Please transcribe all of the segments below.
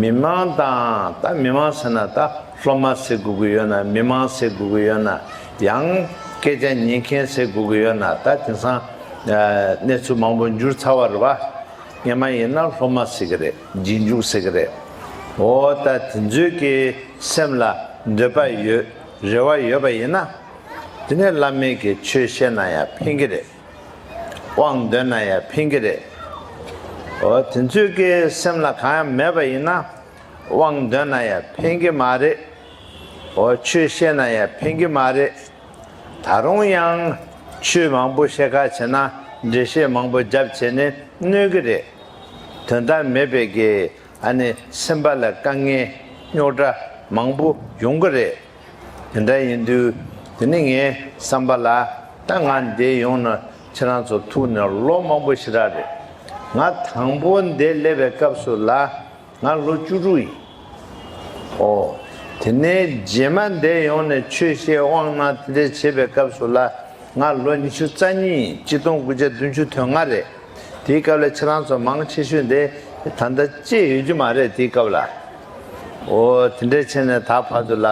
མི་དམངས་དང་ད་མི་དམངས་ཟེར་ན་ད་སློབ་མ་ཟེར་དགོས་ཀྱི་ཡོད་ན་མི་དམངས་ཟེར་དགོས་ཀྱི་ཡོད་ན་ཡང་སྐད་ཆ་ཉན་མཁན་ཟེར་དགོས་ཀྱི་ཡོད་ན་ད་དེང་སང་གནས་ཚུལ་མང་པོ་འགྱུར་ཚར་བ་རེད་བ། ངས་མ་ཡིན་ན་སློབ་མ་ཟེར་གྱི་རེད་རྗེས་འཇུག་ཟེར་གྱི་རེད། འོ་ད་དེ་ཚོའི་གི་སེམས་ལ་འདོད་པ་ཡོད་རེ་བ་ཡོད་པ་ཡིན་ན། དེ་ནས་བླ་མེད་ཀྱི་ཆོས་བཤད་ན་ཡང་ཕན་གྱི་རེད། དབང་འདོད་ན་ཡང་ཕན་གྱི་རེད། འོ་དེ་ཚོའི་ཀའི་སེམས་ལ་གང་ཡང་མེད་པ་ཡིན་ན། དབང་འདོད་ན་ཡང་ཕན་གྱི་མ་རེད། འོ་ཆོས་ཤེས་ན་ཡང་ཕན་གྱི་མ་རེད། ད་རུང་ཡང། ཆོས་མང་པོ་ཤེས་ཁ་བྱེད་ན་འགྲེལ་བཤད་མང་པོ་རྒྱབ་བྱེད་ནི་གནོད་གི་རེད། དོན་དག་མེད་པའི་ཀའི་ཨ་ནི་སེམས་པ་ལ་དཀའ་ངལ་རྙོག་དྲ་མང་པོ་ཡོང་གི་རེད། དེ་འདྲ་ཡིན་དུས་དེ་ནི་ངའི་བསམ་པ་ལ་ད་ང་འདས་ཡོང་ན་ཁྱེད་རང་ཚོ་ཐུག་ནས་ལོ་མང་པོ་ཞིག་རག་རེད། ང་དང་པོ་འདས་སླེབས་པའི་སྐབས་སུ་ལ་ང་ལོ་བཅུ་དྲུག་ཡིན། ཨོ། དེ་ནས་རྗེས་མ་འདས་ཡོང་ནས་ཆོས་བཤད་དབང་གནང་དེ་འདྲ་བྱེད་པའི་སྐབས་སུ་ལ་ང་ལོ་ཉི་ཤུ་རྩ་གཉིས་ཡིན་གཅིག་སྟོང་དགུ་བརྒྱ་བདུན་ཅུ་དོན་ལྔ་རེད། དེའི་སྐབས་ལ་ཁྱེད་རང་ཚོ་མང་ཆེ་ཤོས་འདས་ད་ལྟ་སྐྱེས་ཡོད་རྒྱུ་མ་རེད་དེའི་སྐབས་ལ། འོ་དེ་འདྲའི་ཆེ་ནས་ད་བར་དུ་ལ།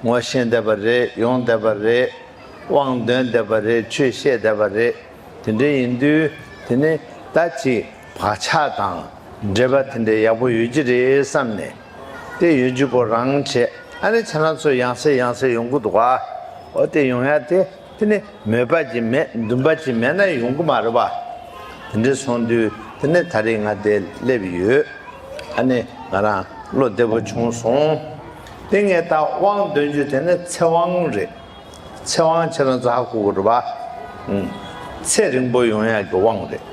ངོ་ཤེས་བསྡད་པ་རེད་ཡོང་བསྡད་པ་རེད། དབང་འདོན་བསྡད་པ་རེད་ཆོས་བཤད་བསྡད་པ་རེད། དེ་འདྲའི་ཡིན་དུས་དེ་ནི་ད་ཅི་བག་ཆགས་དང་འབྲེལ་པ་དེ་འདྲའི་ཡག་པོ་ཡོད་ཀྱི་རེད་བསམ་ནས། དེ་ཡོད་ཀྱི་སྐོར་རང་བྱས་ཨ་ནི་ཁྱེད་རང་ཚོས་ཡང་ཟེར་ཡང་ཟེར་ཡོང་གི་འདུག་ག། འོ་དེ་ཡོང་ཡ་དེ། དེ་ནི་མོས་པ་ཅི་མེད་འདུན་པ་ཅི་མེད་ན་ཡོང་གི་མ་རེད་པ། དེ་འདྲས་སོང་དུས་དེ་ནས་ད་རེས་ང་འདས་སླེབས་ཡོད། ཨ་ནི་ང་རང་བློ་བདེ་པོ་བྱུང་སོང། དེ་ངས་ད་དབང་འདོན་རྒྱུ་དེ་ནི་ཚེ་དབང་རེད། ཚེ་དབང་ཁྱེད་རང་ཚོ་ཧ་གོ་གི་རེད་པ། ཚེ་རིང་པོ་ཡོང་ཡག་གི་དབང་རེད།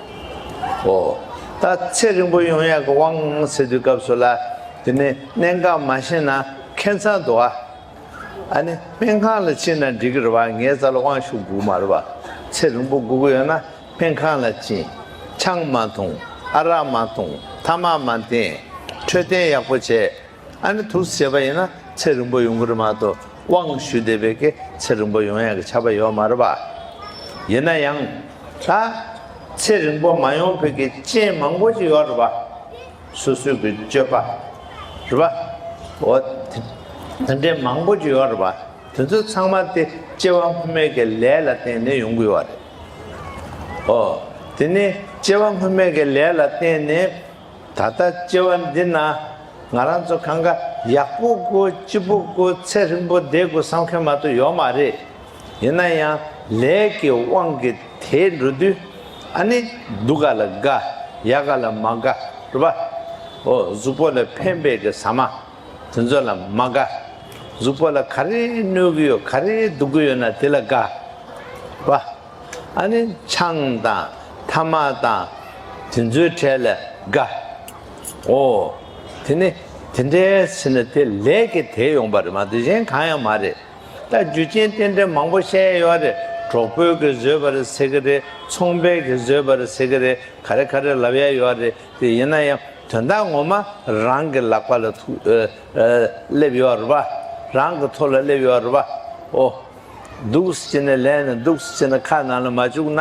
འོ། ད་ཚེ་རིང་པོ་ཡོང་ཡག་གི་དབང་ཟེར་དུས་སྐབས་སུ་ལ་དེ་ནི་གནད་འགག་མ་ཤེས་ན་ཁེ་མཚང་འདུག་ཨ། ཨ་ནི་སྨན་ཁང་ལ་ཕྱིན་ན་འགྲིག་གི་རེད་བ་ངའི་རྩ་ལ་དབང་ཤུགས་དགུ་མ་རེད་བ་ཚེ་རིང་པོ་དགུ་གི་ཡོད་ན་སྨན་ཁང་ལ་ཕྱིན། ཆང་མ་འཐུང་ཨ་རག་མ་འཐུང་ཐ་མག་མ་འཐེན་འཕྲོད་བསྟེན་ཡག་པོ་བྱས་ཨ་ནི་ཐུགས་སུ་བྱས་པ་ཡིན་ན་ཚེ་རིང་པོ་ཡོང་གི་རེད་མ་གཏོགས་དབང་ཤུགས་ལྡན་པའི་གི་ཚེ་རིང་པོ་ཡོང་ཡག་གི་ཆ་པ་ཡོད་མ་རེད་བ། ཡིན་ན་ཡང་ད་ཚེ་རིང་པོ་མ་ཡོང་ཕོད་ཀྱི་རྐྱེན་མང་པོ་ཞིག་ཡོད་རེད་བ། སོ་སོའི་གི་སྤྱོད་པ་རེད་པ། འོ་དེ་འདྲའི་མང་པོ་ཅིག་ཡོད་རེད་པ། དེ་ཚོ་ཚང་མ་དེ་སྐྱེ་བ་སྔོན་མའི་གི་ལས་ལ་བརྟེན་ནས་ཡོང་གི་ཡོད་རེད། འོ་དེ་ནས་སྐྱེ་བ་སྔོན་མའི་གི་ལས་ལ་བརྟེན་ནས་ད་ལྟ་སྐྱེ་བ་འདི་ན་ང་རང་ཚོ་གང་ག་ཡག་པོ་དགོས་སྐྱིད་པོ་དགོས་ཚད་རིང་པོ་བསྡད་དགོས་བསམ་མཁན་མ་གཏོགས་ཡོད་མ་རེད། ཡིན་ན་ཡང་ལས་ཀྱི་དབང་གིས་དེ་འགྲོ་དུས་ཨ་ནི་སྡུག་ག་ལ་དགའ་ཡག་ག་ལ་མ་དགའ་རུ་པ་འོ་གཟུགས་པོ་ལ་ཕན་པའི་གི་ཟ་མ་དེ་ཚོ་ལ་མ་དགའ་གཟུགས་པོ་ལ་ག་རེ་གནོད་གི་ཡོད་ག་རེ་སྡུག་གི་ཡོད་ན་དེ་ལ་དགའ་རུ་པ་ཨ་ནི་ཆང་དང་ཐ་མ་དང་དེ་ཚོའི་གྲས་ལ་དགའ་འོ་དེ་ནི་དེ་འདྲའི་ཟེར་ན་དེ་ལས་ཀྱི་དེ་ཡོང་པ་རེད་མ་གཏོགས་གཞན་གང་ཡང་མ་རེད། རྟ་རྒྱུ་ཅན་རྟེན་འབྲེལ་མང་པོ་བཤད་ཡས་ཡོད་རེད་གྲོགས་པོའི་གི་བཟོས་པ་རེད་ཟེར་གི་རེད་ཚོང་པའི་གི་བཟོས་པ་རེད་ཟེར་གི་རེད་ག་རེ་ག་རེ་ལབ་ཡས་ཡོད་རེད་དེ་ཡིན་ན་ཡང་དོན་དག་ངོ་མ་རང་གི་ལག་པ་ལ་ཐུག་སླེབས་ཡོད་རེད་པ་རང་གི་ཐོ་ལ་སླེབས་ཡོད་རེད་པ་འོ། སྡུགས་སུ་བྱས་ནས་ལན་ནས་སྡུགས་སུ་བྱས་ནས་ཁ་ནང་ལ་མ་བཅུག་ན།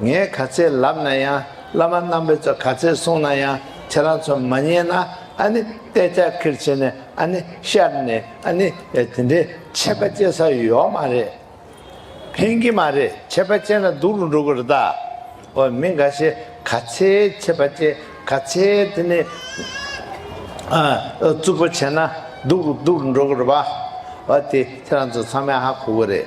ངས་ག་ཚད་ལབ་ན་ཡང་བླ་མ་རྣམ་པས་ཚོ་ག་ཚད་གསུངས་ན་ཡང་ཁྱེད་རང་ཚོ་མ་མཉན་ན་ཨ་ནི་སྟེ་ལྕགས་ཁེར་བྱས་ནས་ཨ་ནི་ཤར་ནས་ཨ་ནི་དེ་འདྲའི་ཆད་པ་བཅད་ས་ཡོད་མ་རེད། ཕན་གི་མ་རེད་ཆད་པ་བཅད་ན་སྡུག་རུ་འགྲོ་གི་རེད་ད། འོ་མི་འགའ་ཤས་ག་ཚད་ཆད་པ་བཅད་ག་ཚད་དེ་ནས་རྩུབ་པོ་བྱས་ན་སྡུག་སྡུག་རུ་འགྲོ་གི་རེད་བ། འོ་དེ་ཁྱེད་རང་ཚོ་ཚང་མས་ཧ་གོ་གི་རེད།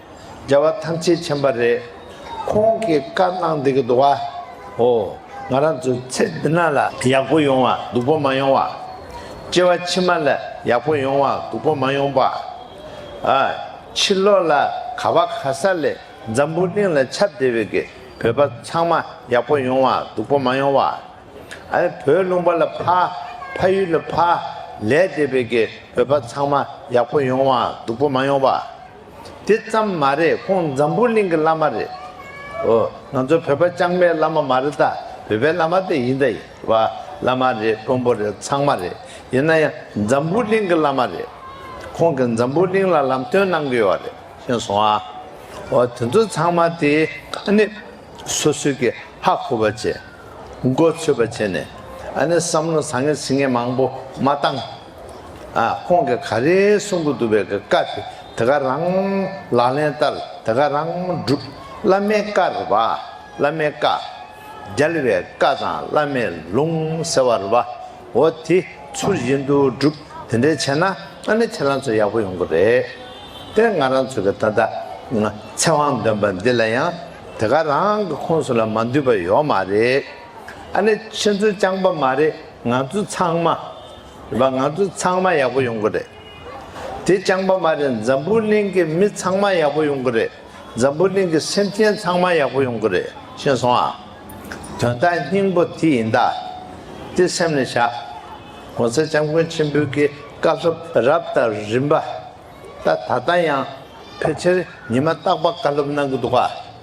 རྒྱལ་བ་ཐམས་ཅད་མཁྱེན་པ་རེད། ཁོང་གིས་བཀའ་གནང་འདི་གི་འདུག་ཨ། ཧོ། ང་རང་ཚོའི་ཚེ་འདི་ན་ལ། ཡག་པོ་ཡོང་བ་སྡུག་པོ་མ་ཡོང་བ། སྐྱེ་བ་ཕྱི་མ་ལ་ཡག་པོ་ཡོང་བ་སྡུག་པོ་མ་ཡོང་པ། ཨ། ཕྱི་ལོག་ལ་ག་བ་ག་ས་ལས་འཛམ་བུ་གླིང་ལ་ཁྱབ་བདེ་བའི་གི་བོད་པ་ཚང་མ་ཡག་པོ་ཡོང་བ་སྡུག་པོ་མ་ཡོང་བ། ཨ། བོད་ལུང་པ་ལ་ཕ། ཕ་ཡུལ་ལ་ཕ། ལས་བདེ་བའི་གི་བོད་པ་ཚང་མ་ཡག་པོ་ཡོང་བ་སྡུག་པོ་མ་ཡོང་བ། དེ་ཙམ་མ་རེད་ཁོང་འཛམ་བུ་གླིང་གི་བླ་མ་རེད། ཨོ། ང་ཚོ་བོད་པ་ལྕང་མའི་བླ་མ་མ་རེད་ད། བོད་པའི་བླ་མ་དེ་ཡིན་ད་ཡིན། བ། བླ་མ་རེད་དཀོན་པོ་རེད་ཚང་མ་རེད། ཡིན་ན་ཡང་འཛམ་བུ་གླིང་གི་བླ་མ་རེད། ཁོང་གིས་འཛམ་བུ་གླིང་ལ་ལམ་སྟོན་གནང་གི་ཡོད་རེད། ཤེས་སོང་ཨ། ཨོ་དེ་ཚོ་ཚང་མ་དེ་ཨ་ནི། སོ་སོས་ཀྱི་ཧ་གོ་བ་བྱེད། མགོ་ཚོས་པ་བྱེད་ནས། ཨ་ནི་བསམ་བློ་བཟང་ངན་ཟིང་ངན་མང་པོ་མ་བཏང། ཁོང་གིས་ག་རེ་གསུང་གི་འདུག་པའི་གི་བཀའ་དེ་དེ་ག་རང་ལག་ལེན་བསྟར་དེ་ག་རང་བསྒྲུབ། བླ་མའི་བཀའ་རེད་པ། བླ་མའི་བཀའ། རྒྱལ་བའི་བཀའ་དང་བླ་མའི་ལུང་ཟེར་བ་རེད་པ། འོ་དེ་ཚུར་བཞིན་དུ་བསྒྲུབ་དེ་འདྲས་བྱས་ན་ཨ་ནི་ཁྱེད་རང་ཚོ་ཡག་པོ་ཡོང་གི་རེད། དེར་ང་རང་ཚོ་གི་ད་ལྟ་ཚེ་དབང་འདོན་པ་འདི་ལ་ཡང་དེ་ག་རང་གི་ཁོངས་སུ་ལ་མ་འདུས་པ་ཡོག་མ་རེད། ཨ་ནི་ཁྱེད་ཚོ་རྐྱང་པ་མ་རེད་ང་ཚོ་ཚང་མ། བ་ང་ཚོ་ཚང་མ་ཡག་པོ་ཡོང་གི་རེད། དེ་རྐྱང་པ་མ་རེད་འཛམ་བུ་གླིང་གི་མི་ཚང་མ་ཡག་པོ་ཡོང་གི་རེད། འཛམ་བུ་གླིང་གི་སེམས་ཅན་ཚང་མ་ཡག་པོ་ཡོང་གི་རེད་ཤེས་སོང་ཨ། དོན་དག་སྙིང་པོ་དེ་ཡིན་ད། དེ་སེམས་ལ་བཞག། གོང་ས་སྐྱབས་མགོན་ཆེན་པོའི་གི་བཀའ་སློབ་རབ་དང་རིམ་པ། ད་ད་ལྟ་ཡང་ཕལ་ཆེར་ཉི་མ་རྟག་པ་བཀའ་སློབ་གནང་གི་འདུག་ཨ།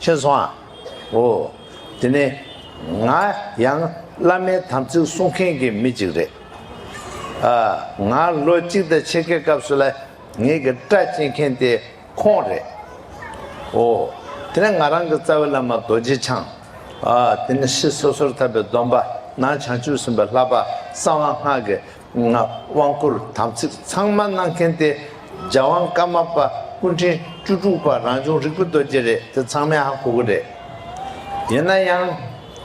ཁྱོད་སོང་ཨ། འོ། དེ་ནི། ང་ཡང་བླ་མའི་དམ་ཚིག་བསྲུང་མཁན་གྱི་མི་ཅིག་རེད། ཨ། ང་ལོ་གཅིག་དང་ཕྱེད་ཀའི་སྐབས་སུ་ལ་ངེད་ཀྱི་སྐྲ་བཅད་མཁན་དེ་ཁོང་རེད། འོ། དེ་ནས་ང་རང་གི་རྩ་བའི་བླ་མ་རྡོ་རྗེ་འཆང། ཨ། དེ་ནི་ཤྲཱི་སོ་སོར་ཐར་པའི་སྡོམ་པ་ནང་བྱང་ཆུབ་སེམས་དཔའ་ལྷག་པ་གསང་བ་སྔགས་ཀྱི་ངག་དབང་བསྐུར་དམ་ཚིག་ཚང་མ་གནང་མཁན་ཏེ་རྒྱ་དབང་བཀའ་མ་པ་སྐུ་འཕྲེང་བཅུ་དྲུག་པ་རང་བྱུང་རིག་པ་རྡོ་རྗེ་རེད་དེ་ཚང་མའི་ཧ་གོ་གི་རེད། ཡིན་ན་ཡང།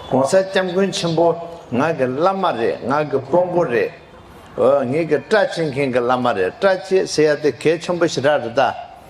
གོང་ས་སྐྱབས་མགོན་ཆེན་པོ་ང་གི་བླ་མ་རེད་ང་གི་དཔོན་པོ་རེད། འོ་ངེད་ཀྱི་སྐྲ་བཅད་མཁན་གྱི་བླ་མ་རེད་སྐྲ་བཅད་ཟེར་ཡ་དེ་གལ་ཆེན་པོ་ཞིག་རག་རེད་ད།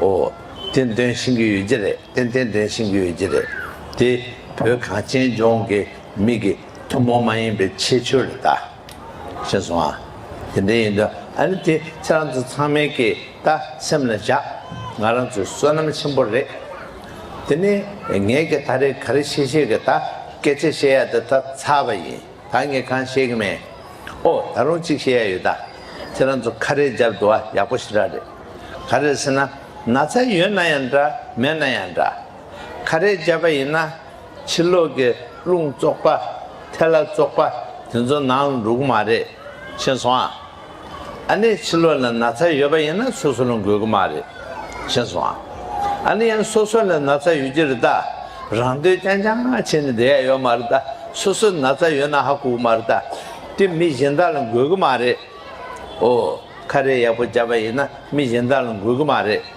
ཨོ། དེ་འདོན་ཤིང་གི་ཡོད་ཀྱི་རེད་དེ་དེ་འདོན་ཤིང་གི་ཡོད་ཀྱི་རེད་དེ། བོད་གངས་ཅན་ལྗོངས་ཀྱི་མིག་གི་ཐུན་མོང་མ་ཡིན་པའི་ཁྱད་ཆོས་རེད་ད། ཤེས་སོང་ཨ། དེ་འདྲ་ཡིན་དུས་ཨ་ནི་དེ་ཁྱེད་རང་ཚོ་ཚང་མའི་གི་ད་སེམས་ལ་བཞག་ང་རང་ཚོའི་བསོད་ནམས་ཆེན་པོ་རེད། དེ་ནས་ངས་གི་ད་རེ་ག་རེ་བཤད་བཤད་གི་ད་སྐད་ཆ་བཤད་ཡ་དེ་ད་ཚར་བ་ཡིན། ད་ངས་གང་བཤད་གི་མེད། ཨོ་ད་རུང་གཅིག་བཤད་ཡ་ཡོད་ད། ཁྱེད་རང་ཚོ་ཁ་རས་སྦྱར་འདུག་ཨ་ཡག་པོ་ཞེ་དྲག་རེད། ཁ་རས་ཟེར་ན་ན་ཚ་ཡོད་ན་ཡང་འདྲ་མེད་ན་ཡང་འདྲ། ཁ་རས་སྦྱར་པ་ཡིན་ན་ཕྱི་ལོག་གི་རླུང་བཙོག་པ། ཐལ་ལ་བཙོག་པ་དེ་ཚོ་ནང་ལ་འགྲོ་གི་མ་རེད། མཁྱེན་སོང་ཨ། ཨ་ནི་ཕྱི་ལོགས་ལ་ན་ཚ་ཡོད་པ་ཡིན་ན་སོ་སོ་ལ་འགོས་ཀྱི་མ་རེད། བྱས་སོང་ཨ། ཨ་ནི་ཡང་སོ་སོ་ལ་ན་ཚ་ཡོད་ཀྱི་རེད་ད། རང་འདོད་རྐྱང་རྐྱང་བྱས་ནས་བསྡད་ཡ་ཡོད་མ་རེད་ད། སོ་སོ་ན་ཚ་ཡོད་ན་ཧ་གོ་གི་མ་རེད་ད། དེ་མི་གཞན་དག་ལ་འགོས་ཀྱི་མ་རེད། ཨོ། ཁ་རས་ཡག་པོ་བརྒྱབ་པ་ཡིན་ན་མི་གཞན་དག་ལ་འགོས་ཀྱི་མ་རེད།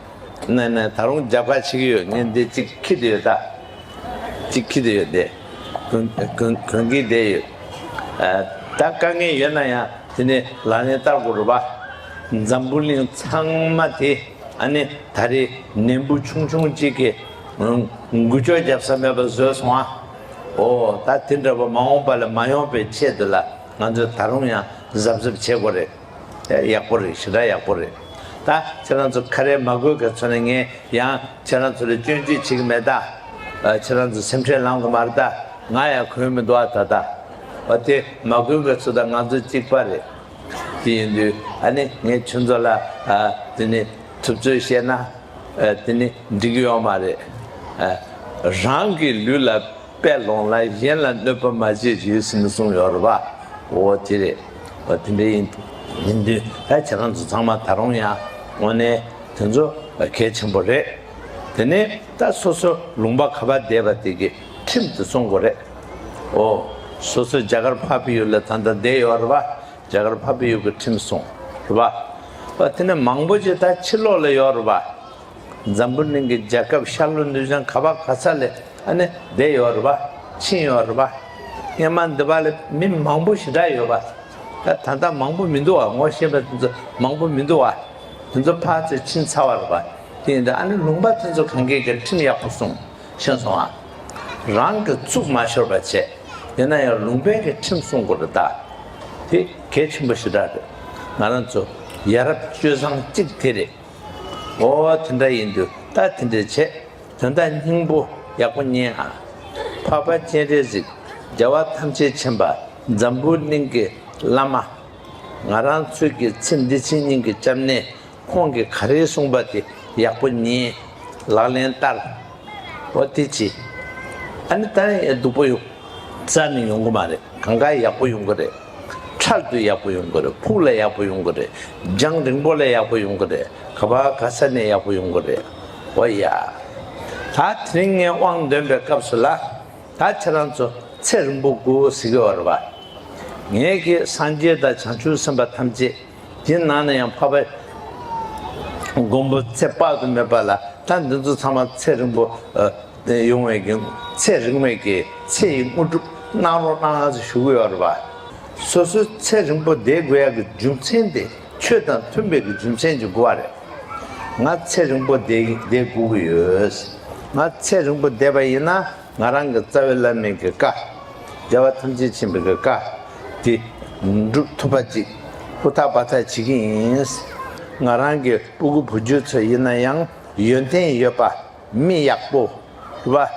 ནས་ནས་ད་རུང་རྒྱབ་ཁ་ཕྱིག་ཡོད་ངན་དེ་ཅིག་ཁྱི་དེ་ཡོད་ད་ཅིག་ཁྱི་དེ་ཡོད་དེ་གོན་གི་དེ་ཡོད་ད་དཀའ་ངལ་ཡོད་ན་ཡང་དེ་ནས་ལ་ནས་བལྟ་དགོ་རུ་བ་འཛམ་བུ་གླིང་ཚང་མ་དེ་ཨ་ནི་ད་རེ་ནན་བུ་ཆུང་ཆུང་ཅིག་གི་འགུལ་ཆོག་རྒྱབ་ས་མེད་པ་བཟོས་སོང་ཨ་འོ་ད་དེ་འདྲ་བ་མ་འོངས་པ་ལ་མ་ཡོང་པའི་ཆེད་དུ་ལ་ང་ཚོས་ད་རུང་ཡང་གཟབ་གཟབ་བྱེད་དགོ་རེད། རེད། ཡག་པོ་རེད་ཞེ་དྲག་ཡག་པོ་རེད་ད་ཁྱེད་རང་ཚོ་ཁ་རས་མ་དགོས་གལ་ཚོ་ནས་ངས་ཡང་ཁྱེད་རང་ཚོ་ལ་སྐྱོན་བརྗོད་བྱེད་ཀྱི་མེད་ད་ཁྱེད་རང་ཚོ་སེམས་ཁྲལ་ལངས་གི་མ་རེད་ད་ང་ཡང་གོས་མི་འདུག་ཨ་ད་ད་བ་དེ་མ་དགོས་གལ་ཚོ་ད་ང་ཚོ་གཅིག་པ་རེད་དེ་ཡིན་དུས་ཨ་ནི་ངས་ཁྱོད་ཚོ་ལ་དེ་ནི་ཐུབ་ཚོད་བཤད་ན་དེ་ནི་འགྲིག་གི་ཡོད་མ་རེད་རང་གི་ལུས་ལ་པའི་ལུང་ལ་གཞན་ལ་གནོད་པ་མ་བྱེད་ཅེས་ཟིན་པའི་གསུང་ཡོད་རེད་པ། འོ་དེ་རེད། འོ་དེ་འདྲ་ཡིན། ཡིན་དུས་ཕལ་ཆེར་ང་ཚོ་ཚང་མ་ད་རུང་ཡང་དངོས་གནས་དེ་ཚོ་གལ་ཆེན་པོ་རེད། དེ་ནས་ད་སོ་སོ་ལུང་པ་ག་པ་བསྡད་པ་དེ་གི་ཁྲིམས་དེ་སྲུང་དགོས་རེད། འོ་སོ་སོ་རྒྱ་གར་ཕ་བི་ཡུལ་ལ་ད་ལྟ་བསྡད་ཡོད་རེད་པ། རྒྱ་གར་ཕ་བི་ཡུལ་གི་ཁྲིམས་སྲུང་རེད་པ། འོ་དེ་ནས་མང་པོ་ཅིག་ད་ཕྱི་ལོག་ལ་ཡོད་རེད་པ། འཛམ་བུ་གླིང་གི་རྒྱལ་ཁབ་ཤར་ལྷོ་ནུས་ལྗང་ག་བ་ག་ས་ལས་ཨ་ནེ་བསྡད་ཡོད་རེད་པ། ཕྱིན་ཡོད་རེད་པ། སྔན་མ་འདི་བ་ལས་མི་མང་པོ་ཞི་དྲག་ཡོད་པ། ད་ད་ལྟ་མང་པོ་མི་འདུག་བ་ངོ་ཤེས་པ་དེ་ཚོ་མང་པོ་མི་འདུག་བ། དེ་ཚོ་ཕར་ཚེ་ཕྱིན་ཚར་བ་རེད་པ། དེ་ཡིན་དུ་ཨ་ནེ་ལུང་པ་དེ་ཚོ་གང་གིས་ཀྱང་ཁྲིམས་ཡག་པོ་སྲུང་ཤེས་སོང་བ། རང་གི་གཙུག་མ་ཤོར་བ་བྱས། ཡིན་ན་ཡང་ལུང་པའི་གི་ཁྲིམས་སྲུང་དགོས་རེད་ད། དེ་གལ་ཆེན་པོ་ཞི་དྲག་རེད། ང་རང་ཚོ་ཡ་རབས་སྤྱོད་བཟང་གཅིག་དེ་རེད། ཨོ་དེ་འདྲ་ཡིན་དུས་ད་དེ་འདྲས་བྱས་དོན་དག་སྙིང་པོ་ཡག་པོ་རྙེད་ཨ། འཕགས་པ་སྤྱན་རས་གཟིགས་རྒྱལ་བ་ཐམས་ཅད་མཁྱེན་པ་འཛམ་བུའི་གླིང་གི་བླ་མ། ང་རང་ཚོས་ཀྱི་ཚེ་འདི་ཕྱི་གཉིས་ཀྱི་སྐྱབས་གནས་ཁོང་གི་ག་རེ་གསུངས་པ་དེ་ཡག་པོ་རྙེད་ལག་ལེན་བསྟར། ཨོ་དེ་ཅི་ཨ་ནི་ད་ནི་སྡུག་པོ་ཡོད་རྩ་ནི་ཡོང་གི་མ་རེད་གང་དགའ་ཡག་པོ་ཡོང་གི་རེད། ཁྲག་རྒྱུ་ཡག་པོ་ཡོང་གི་རེད་ཕུགས་ལ་ཡག་པོ་ཡོང་གི་རེད་རྒྱང་རིང་པོ་ལ་ཡག་པོ་ཡོང་གི་རེད་ག་བ་ག་ས་ནས་ཡག་པོ་ཡོང་གི་རེད་འོ་ཡ། ད་དེ་རིང་ངས་དབང་འདོན་པའི་སྐབས་སུ་ལ་ད་ཁྱེད་རང་ཚོ་ཚེ་རིང་པོ་དགོས་ཟེར་གི་ཨོ་རེད་བ། ངས་ཁྱེད་སངས་རྒྱས་དང་བྱང་ཆུབ་སེམས་དཔའ་ཐམས་ཅད་དེ་ནང་ན་ཡང་འཕགས་པ་མགོན་པོ་ཚེ་དཔག་ཏུ་མེད་པ་ལ་ད་འདི་ཚོ་ཚང་མ་ཚེ་རིང་པོ་ཡོང་བའི་གི་ཚད་རིང་བའི་གི་ཚེ་ཡི་དངོས་གྲུབ་གནང་རོགས་གནང་ང་ཚོ་ཞུ་གི་ཡོད་རེད་པ། སོ་སོའི་ཚད་རིང་པོ་བསྡད་དགོས་ཡ་གི་རྒྱུ་མཚན་དེ་ཆོས་དང་མཐུན་པའི་གི་རྒྱུ་མཚན་གྱི་གོ་བ་རེད། ང་ཚད་རིང་པོ་བསྡད་བསྡད་དགོས་གི་ཡོད། ང་ཚད་རིང་པོ་བསྡད་པ་ཡིན་ན་ང་རང་གི་རྩ་བའི་བླ་མེད་གི་བཀའ། རྒྱལ་བ་ཐམས་ཅད་མཁྱེན་པའི་གི་བཀའ་དེ་འགྲུབ་ཐུབ་པ་ཅིག་ཧུར་ཐག་འབའ་ཐག་བྱེད་གི་ཡིན། ང་རང་གི་སྤུ་གུ་བུ་རྒྱུད་ཚོ་ཡིན་ན་ཡང་ཡོན་ཏན་ཡོད་པ། མི་ཡག་པོ། བ།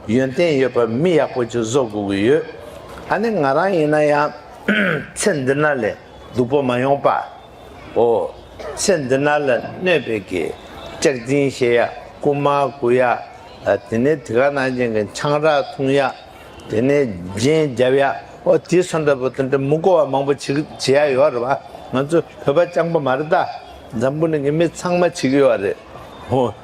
ཡོན་ཏན་ཡོད་པ་མི་ཡག་པོ་ཅིག་བཟོ་དགོས་ཀྱི་ཡོད། ད་ནི་ང་རང་ཡིན་ན་ཡང། ཚེ་འདི་ན་ལས་སྡུག་པོ་མ་ཡོང་པ། འོ། ཚེ་འདི་ན་ལ་གནོད་པའི་གི། ལྕགས་རྫིང་བཤལ་ཡག་རྐུ་མ་རྐུ་ཡག། དེ་ནས་དེ་ག་ནང་ཅན་གྱི་ཆང་རག་འཐུང་ཡག། དེ་ནས་རྒྱན་རྒྱབ་ཡག་འོ་དེ་སོ་འདྲ་པོ་དེ་འདྲ་མི་གོ་བ་མང་པོ་བྱེད་ཀྱི་ཡག་ཡོད་རེད་བ། ང་ཚོ་བོད་པ་སྤྱང་པོ་མ་རེད་ད། འཛམ་བུ་ནས་གི་མི་ཚང་མ་བྱེད་ཀྱི་ཡོད་རེད། འོ།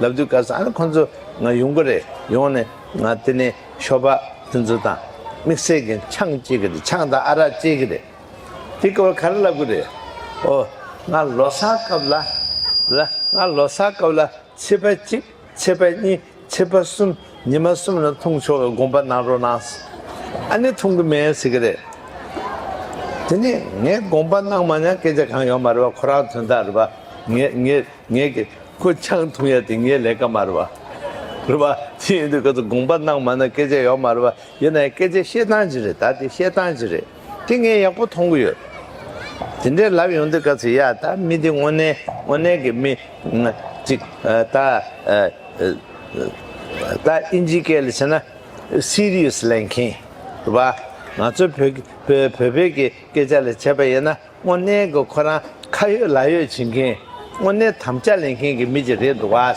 ལབ་དུས་སྐབས་སུ་ཨ་ནི་ཁོང་ཚོ་ང་ཡོང་གི་རེད་ཡོང་ནས་ང་དེ་ནས་ཤོ་པ་དེ་ཚོ་དང་དམིགས་བསལ་གྱི་ཆང་བསྐྱེལ་གི་རེད་ཆང་དང་ཨ་རག་བསྐྱེལ་གི་རེད། དེ་སྐབས་ག་རེ་ལབ་གི་རེད། ཨོ། ང་ལོ་སར་སྐབས་ལ་ལ་ང་ལོ་སར་སྐབས་ལ་ཚེས་པ་གཅིག་ཚེས་པ་གཉིས་ཚེས་པ་གསུམ་ཉི་མ་གསུམ་ལ་འཐུང་ཆོག་གི་དགོངས་པ་གནང་རོགས་གནང། ཨ་ནི་འཐུང་གི་མེད་ཟེར་གི་རེད། དེ་ནས་ངས་དགོངས་པ་གནང་མ་མྱང་སྐད་ཆ་གང་ཡོང་མ་རེད་པ་ཁོ་རང་དོན་དག་རེད་པ་ངས་ངས། ངས་ཀྱི་ཁོ་ཆང་འཐུང་ཡ་དེ་ངའི་ལས་ཀ་མ་རེད་པ། རེད་པ། དེ་ཡིན་དུས་ཁོ་ཚོ་དགོངས་པ་གནང་མ་ན་སྐད་ཆ་ཡོག་མ་རེད་པ། ཡིན་ན་ཡང་སྐད་ཆ་བཤད་སྟངས་ཅིག་རེད་ད་དེ་བཤད་སྟངས་ཅིག་རེད། དེ་ངས་ཡག་པོ་མཐོང་གི་ཡོད། དེ་འདྲའི་ལབ་ཡོང་དུས་ག་ཚོད་ཡ་ད་མི་འདི་དངོས་གནས་དངོས་གནས་ཀྱི་མི། ཅིག་ད། ད་ཨིན་ཇི་སྐད་ལ་བྱས་ན། Serious ལེན་མཁན། རེད་པ། ང་ཚོའི་བོད་བོད་བོད་ཀྱི་སྐད་ཆ་ལ་བྱས་པ་ཡིན་ན། དངོས་གནས་ཀྱི་ཁོ་རང་ཁ་ཡོད་ལག་ཡོད་བྱེད་མཁན་དངོས་གནས་དམ་བཅའ་ལེན་མཁན་གྱི་མི་ཅིག་རེད་འདུག་བ།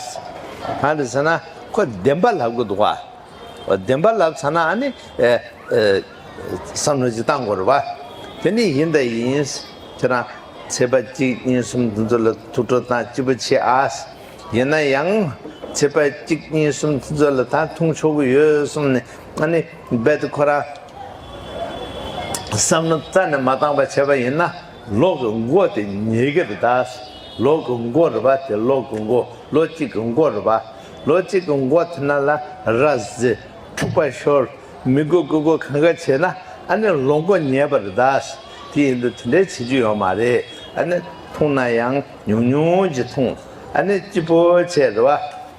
གང་རེད་ཟེར་ན་ཁོ་བདེན་པ་ལབ་གི་འདུག་བ། བདེན་པ་ལབ་ཚར་ནའང་ནི་བསམ་བློ་ཅིག་བཏང་དགོས་རེད་བ། དེ་ནི་ཡིན་དང་ཡིན། ཁྱེད་རང་ཚེས་པ་གཅིག་གཉིས་གསུམ་འདི་ཚོ་ལ་ཐུགས་ཁྲོ་དང་ལྕི་པོ་ཆེ་ཨ། ཡིན་ན་ཡང་ཚེས་པ་གཅིག་གཉིས་གསུམ་དེ་ཚོ་ལ་ད་འཐུང་ཆོག་གི་ཡོད་གསུངས་ནས་ཨ་ནི་རྦད་དེ་ཁོ་རང། བསམ་མནོ་རྩ་ནས་མ་བཏང་བར་བྱས་པ་ཡིན་ན་ལོག་གི་མགོ་དེ་ཉེས་ཀྱི་རེད་ད། ལོག་གི་མགོ་རེད་པ་དེ་ལོག་གི་མགོ་ལོ་གཅིག་གི་མགོ་རེད་པ། ལོ་གཅིག་གི་མགོ་དེ་ན་ལ་ར་ཟེ་འཁྲུག་པ་ཤོར་མི་དགོས་དགོས་དགོས་གང་ག་བྱས་ན་ཨ་ནི་ལོག་མགོ་ཉེས་པ་རེད་ད། དེ་ཡིན་དུས་དེ་འདྲའི་བྱེད་རྒྱུ་ཡོད་མ་རེད་ཨ་ནི་འཐུང་ན་ཡང་ཉུང་ཉུང་གྱིས་འཐུང་ཨ་ནི་སྐྱིད་པོ་བྱས་རེད་བ།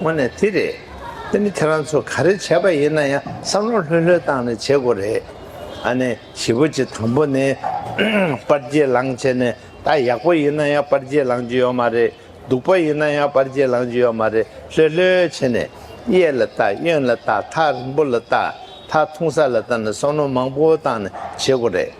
དངོས་གནས་དེ་རེད། དེ་ནི་ཁྱེད་རང་ཚོ་ག་རེ་བྱས་པ་ཡིན་ན་ཡང་བསམ་བློ་ལྷོད་ལྷོད་བཏང་ནས་བྱེད་དགོས་རེད། ཨ་ནི་བཞི་པོ་ཆེ་དང་པོ་ནི། པར་རྗེས་ལང་བྱས་ནས་ད་ཡག་པོ་ཡིན་ན་ཡང་པར་རྗེས་ལང་རྒྱུ་ཡོད་མ་རེད། སྡུག་པོ་ཡིན་ན་ཡང་པར་རྗེས་ལང་རྒྱུ་ཡོད་མ་རེད་ལྷོད་ལྷོད་བྱས་ནས། གཡས་ལ་ལྟ་གཡོན་ལ་ལྟ་མཐའ་རིང་པོ་ལ་ལྟ་མཐའ་ཐུང་ས་ལ་ལྟ་ནས་བསམ་བློ་མང་པོ་བཏང་ནས་བྱེད་དགོས་རེད།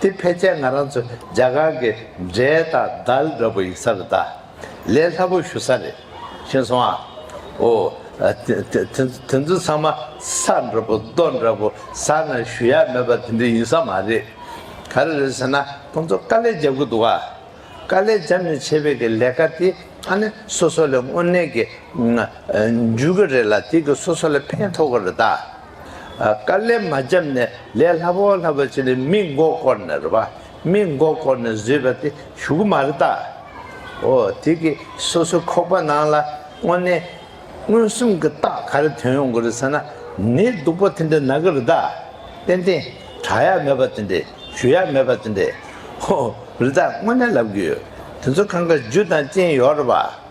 དེ་ཕལ་ཆེར་ང་རང་ཚོ་རྒྱ་གར་གྱི་འབྲས་དང་དལ་འདྲ་པོ་ཡིག་ས་རེད་ད། ལས་སླ་པོ་ཞུ་ས་རེད། ཤེས་སོང་ཨ། འོ། དེ་ཚོ་ཚང་མ་ས་འདྲ་པོ་རྡོ་འདྲ་པོ་ས་ན་ཞུ་ཡ་མེད་པ་དེ་འདྲ་ཡིན་ས་མ་རེད། ག་རེ་རེད་ཟེར་ན་ཁོང་ཚོ་དཀའ་ལས་རྒྱབ་གི་འདུག་ཨ། དཀའ་ལས་རྒྱབ་ནས་བྱེད་པའི་གི་ལས་ཀ་དེ་ཨ་ནི་སོ་སོ་ལས་དངོས་གནས་གི་འཇུས་གི་རེད་ལ་དེ་གི་སོ་སོ་ལས་ཕན་ཐོག་གི་རེད་ད། དཀའ་ལས་མ་བརྒྱབ་ནས་ལས་སླ་བོ་སླ་བོ་བྱས་ནས་མི་མགོ་བསྐོར་ནས་རེད་པ། མི་མགོ་བསྐོར་ནས་བཟོས་པ་དེ་ཞུགས་མ་རེད་ད། འོ་དེ་གི་སོ་སོའི་ཁོག་པ་ནང་ལ་དངོས་གནས་མངོན་སུམ་གི་རྟགས་ག་རེ་དོན་ཡོང་གི་རེད་ཟེར་ན་ནི་སྡུག་པོ་དེ་འདྲ་ན་གི་རེད་ད། ཏན་ཏན་གྲགས་ཡ་མེད་པ་དེ་འདྲས་ཞུ་ཡ་མེད་པ་དེ་འདྲས། ཧོ་རེད་ད་དངོས་གནས་ལབ་གི་ཡོད་དེ་ཚོ་ཁང་ཁ་རྒྱུ་དང་ཅན་ཡོད་རེད་པ།